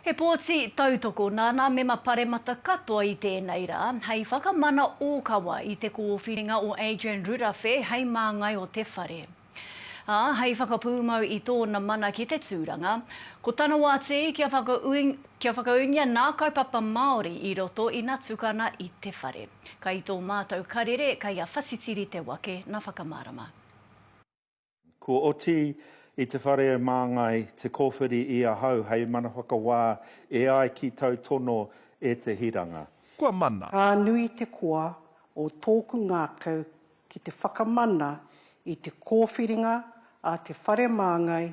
He pōti tautoko nā nā mema paremata katoa i tēnei rā hei whakamana ōkawa i te kōwhiringa o Adrian Rurawhe hei māngai o te whare. Ā, hei whakapūmau i tōna mana ki te tūranga, ko tana wā tē kia kia whakaūngia nā kaupapa Māori i roto ina tukana i te whare. Kai tō mātou karere, kai a Whatitiri te wake na whakamārama. Kua oti i te whare o Māngai te kōwhiri i ahau hei mana whakawā e ai ki tau tono e te hiranga. Kua mana. Ka nui te koa o tōku ngākau ki te whakamana i te kōwhiringa a te whare Māngai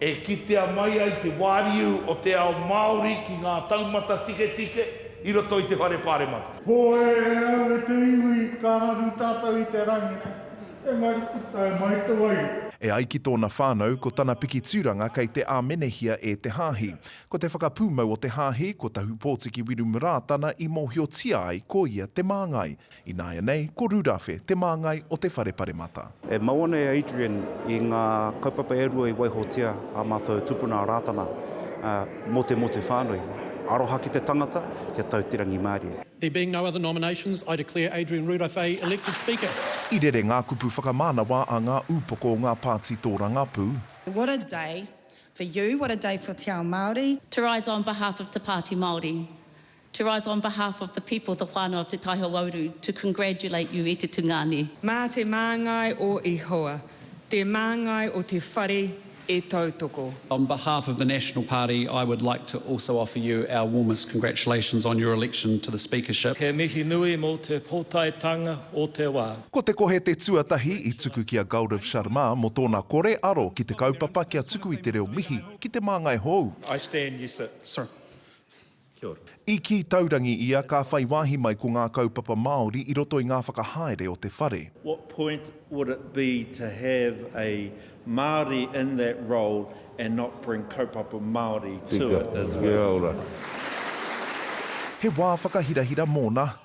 E kitea mai ai te wāriu o te ao Māori ki ngā taumata tiketike i roto i te Whare Pāremata. Hoi e au e te iwi, ka raru tātou i te rangi nei, engari ko tae mai te wairua. E ai ki tōna whānau, ko tana piki tūranga kei te āmenehia e te hāhi. Ko te whakapūmau o te hāhi, ko Tahupōtiki Wirumurā tana i mōhiotia ai ko ia te māngai. Ināianei, ko Rurafe, te māngai o Te Whare Paremata. E mau ana e Adrian i ngā kaupapa e rua i waihotia ā mātou tupuna a Rātana mō te motu whānui, aroha ki te tangata, kia tau te rangimārie. There being no other nominations, I declare Adrian Rurafe elected Speaker. I rere ngā kupu whakamānawa a ngā ūpoko o ngā pāti tōrangapū. What a day for you, what a day for Te Ao Māori. To rise on behalf of Te Pāti Māori, To rise on behalf of the people, the whānau of Te Tai Hauauru, to congratulate you i te tungāne. Mā te māngai o Ihowa, te māngai o te whare e tautoko. On behalf of the National Party, I would like to also offer you our warmest congratulations on your election to the Speakership. He mihi nui mō te pōtaetanga o te wā. Ko te kohe te tuatahi i tuku ki a Gaurav Sharma mō tōna kore aro ki te kaupapa kia tuku i te reo mihi ki te māngai hou. I stand, yes sir. Sir. Kia ora. I kī taurangi ia ka whai wāhi mai ko ngā kaupapa Māori i roto i ngā whakahaere o te whare. What point would it be to have a Māori in that role and not bring kaupapa Māori to it as well? Kia ora. He wā whakahirahira mōna.